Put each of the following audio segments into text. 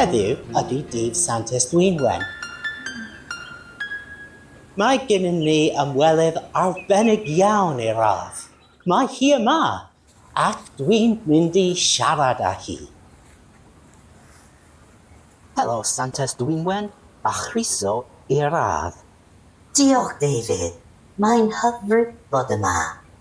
Heddiw ydy dydd Sant Estwynwen. Mae gennym ni ymwelydd arbennig iawn i'r ardd. Mae hi yma Ac dwi'n mynd i siarad â hi. Helo Santes Dwynwen, a chroeso i'r ardd. Diolch David, mae'n hyfryd bod yma.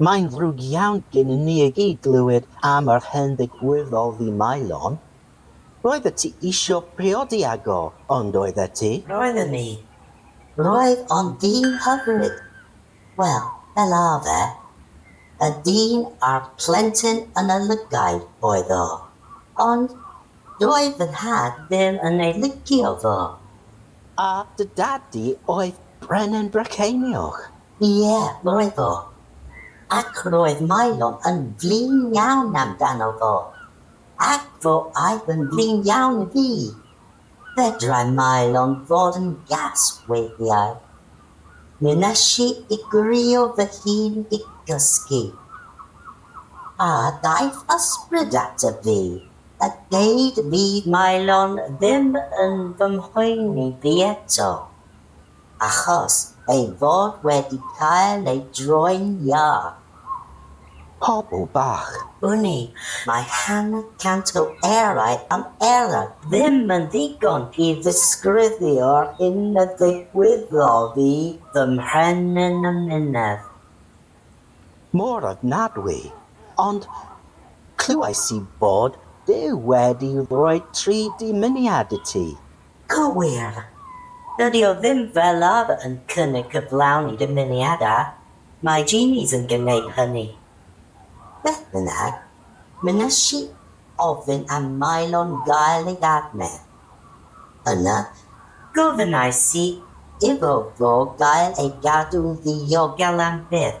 Mae'n ddrwg iawn gennym ni i gyd glywed am yr hen ddigwydd oedd i Maelon. Roeddet ti isio priodi ag o, yn doeddet ti? Roeddwn i. Roedd o'n ddyn hyfryd. Wel, fel arfer, y dyn a'r plentyn yn y llygaid oedd o, ond doedd fy nhad ddim yn ei licio fo. A dy dad di oedd Brenin Brycheiniog? Ie, roedd o. Ac roedd Maelon yn flin iawn amdano fo. Ac fo aeth yn flin iawn i fi. Fedrai Maelon fod yn gas weithiau. Mi wnes i igrio fy hun i gysgu. A ddaeth ysbryd ata fi a deud fydd Maelon ddim yn fy mhoeni fi eto. achos ei fod wedi cael ei droi'n iâ. Pobl bach. Uni, mae hanner cant o erau am erau. Ddim yn ddigon i ddisgrifio'r hyn a ddigwyddodd i fy mhen yn y mynedd. Mor ofnadwy, ond clywais i fod Duw wedi rhoi tri dymuniad i ti. Cywir. Dydi o ddim fel arfer yn cynnig cyflawni dymuniadau, mae Genies yn gwneud hynny. Beth bynnag, mi wnes i ofyn am Mylon gael ei adfer. Yna, gofynnais i iddo fo gael ei gadw'n ddiogel am byth.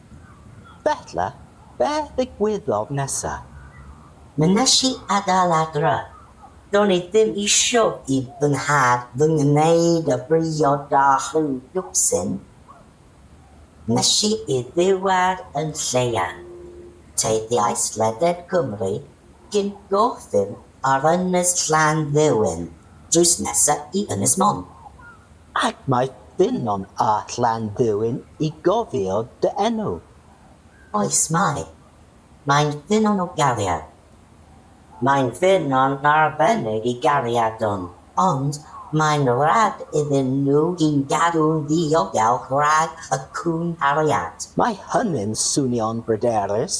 Felly, be ddigwyddodd nesa? Mi nes i adael adra. Do'n i ddim isio i fy nhad fy ngwneud y briod â chliwsin. Mes i i ddiwedd yn Lleuad. Teithiais leded Cymru cyn gorffen ar Ynys Llanddewin drws nesa i Ynys Môn. Ac mae dynon a Llanddwyn i gofio dy enw. Oes mae. Mae'n dynon o gariad. Mae'n ddynon arbennig i gariadon. Ond mae'n rhad iddyn nhw un gadw'n ddiogel rhag y cŵn cariad. Mae hynny'n swnio'n bryderus.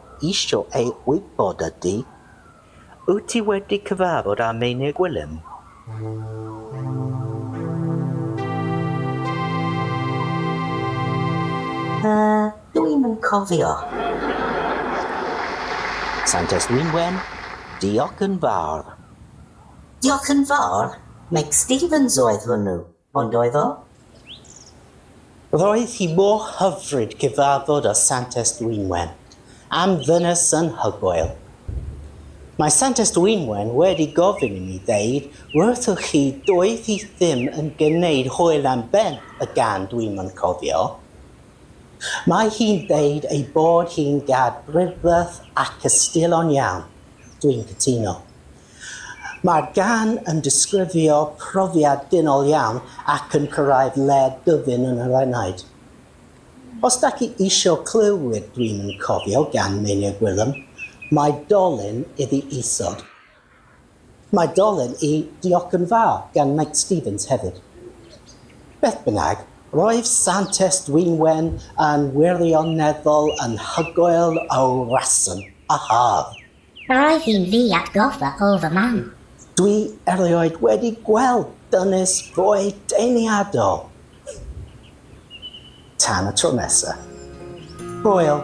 isio ei wybod ydy, Wyt ti wedi cyfarfod â Meinir Gwilym? Yy, dw i'm yn cofio. Santes Dwynwen, Diolch yn fawr. Diolch yn fawr, Meg Stevens oedd hwnnw. Ond oedd o? Roedd hi mor hyfryd gyfarfod â Santes Dwynwen am ddynes anhygoel. Mae Santes Dwynwen wedi gofyn i mi ddeud wrthoch chi doedd hi ddim yn gneud hwyl am ben y gan dwi'm yn cofio. Mae hi'n deud ei bod hi'n gad brydferth ac ystilon iawn. Dwi'n cytuno. Mae'r gân yn disgrifio profiad dynol iawn ac yn cyrraedd lle dyfyn yn yr enaid. Os dach chi isio clywed Green yn Cofio gan Meinir Gwilym, mae dolen iddi isod. Mae dolen i Diolch yn Fawr gan Meic Stevens hefyd. Beth bynnag, roedd Santes Dwynwen yn wirioneddol anhygoel o reswm a hardd. Roedd hi'n ddi atgoffa o fy mam. Dwi erioed wedi gweld dynes fwy deniadol! Tan y tro nesa. Hwyl!